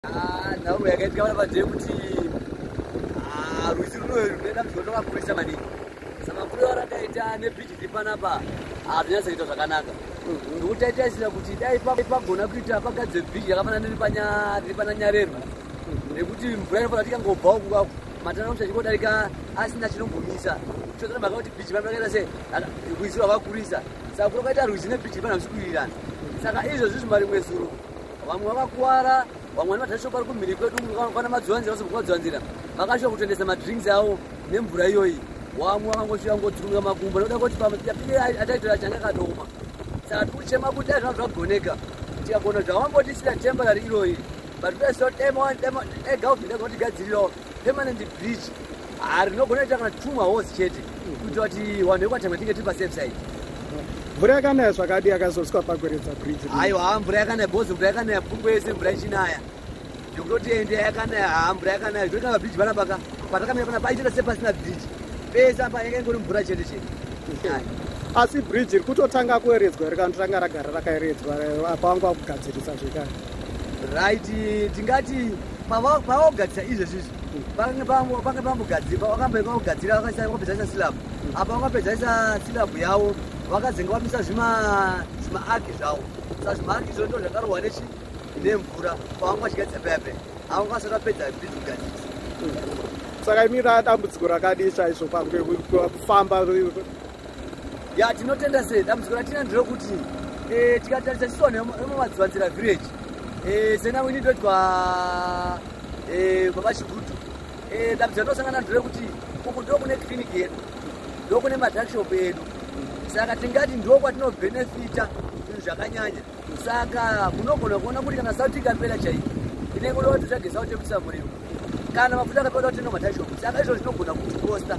Ah, nhauro yakaitika vana vadhee kuti ah, rwizi runoyo runoenda mzvondo vakurisa maningi samakuru aro akaita nebhiji ri panapa hazvinyatsaita ah, zvakanaka ndokuti aita isira kuti dai pagona kuita pagadzire bhiji yakafanana riri pana nyarerwa nekuti mvura inofanira kuti ikangobvawo kukako matana kuti achingodarika asina chinombomisa chozana mhaka kuti bhiji vana vakaita se rwizi rwavakurisa sakuru kaita rwizi nebhiji vana vachikuirirana saka izvozvi zvimarimwe zuro vamwe vakakuwara vamwe vane matasho pari kumhiri kwedu vana madzivanzira vasobva madzivanzira vakasvika kutendesa madrinks avo nemvura iyoyi wamwe vakangosvika ngodzirunga makumbo nokuda kuti pamapike ataitora changa kadoma saka tikuchema kuti dai zvanga zvagoneka tikagona zvawambotisira temporary iroyi but pesotema ega uvinda kuti gadzirirawo permanent bridge ah, rinogona ita kana two mahosi chete kuitira kuti vanhu vekwatemwe tinge tiri pasafe side mvura yakanaya zvakadi yakazoswa pakweredza bridge aiwa haa mvura yakanaya bhozi mvura yakanaya pfumbo yese mvura ichinaya zvekutoti ende yakanaya haa mvura yakanaya zvekuti kana bridge pana paka patakamira pana paitira sepasina bridge pese apa yaka ingori mvura chete chete asi bridge iri kutotanga kueredzwa iri kana totanga ragara rakaeredzwa apa wanga wakugadzirisa zvekare right tingati pavakugadzisa izvezvi izvi vange vambogadzira vakambaika kugadzira vakapedzaisa silabu apa vakapedzaisa silabu yavo vakazenge vamisa zvimaaki zvavo sa zvimaaki izvo ndo zvakarohwa nechi nemvura pavanga vachigadzisa pepe avo vasati vapedza bizi kugadzisa saka imira dambudziko rakadii chaizvo pangekufamba ya tinotenda se dambudziko ratina nderokuti eh, tikatarisa chisu vanhu vemumadzivanzira village eh, sena wini ndoitwa eh, baba chigutu dambudziko rinosangana nderekuti uku ndo kune clinic yedu ndo kune madrakshop edu saka tingati ndo kwatinobhenefita zvinhu zvakanyanya saka munogona kuona kuti kana sauti ikapera chaiyo inenge kuda kuti tsvage sauti yekuisa muriwo kana mafuta akapera kuti inomadrakshop saka izvo zvinogona kuti kosta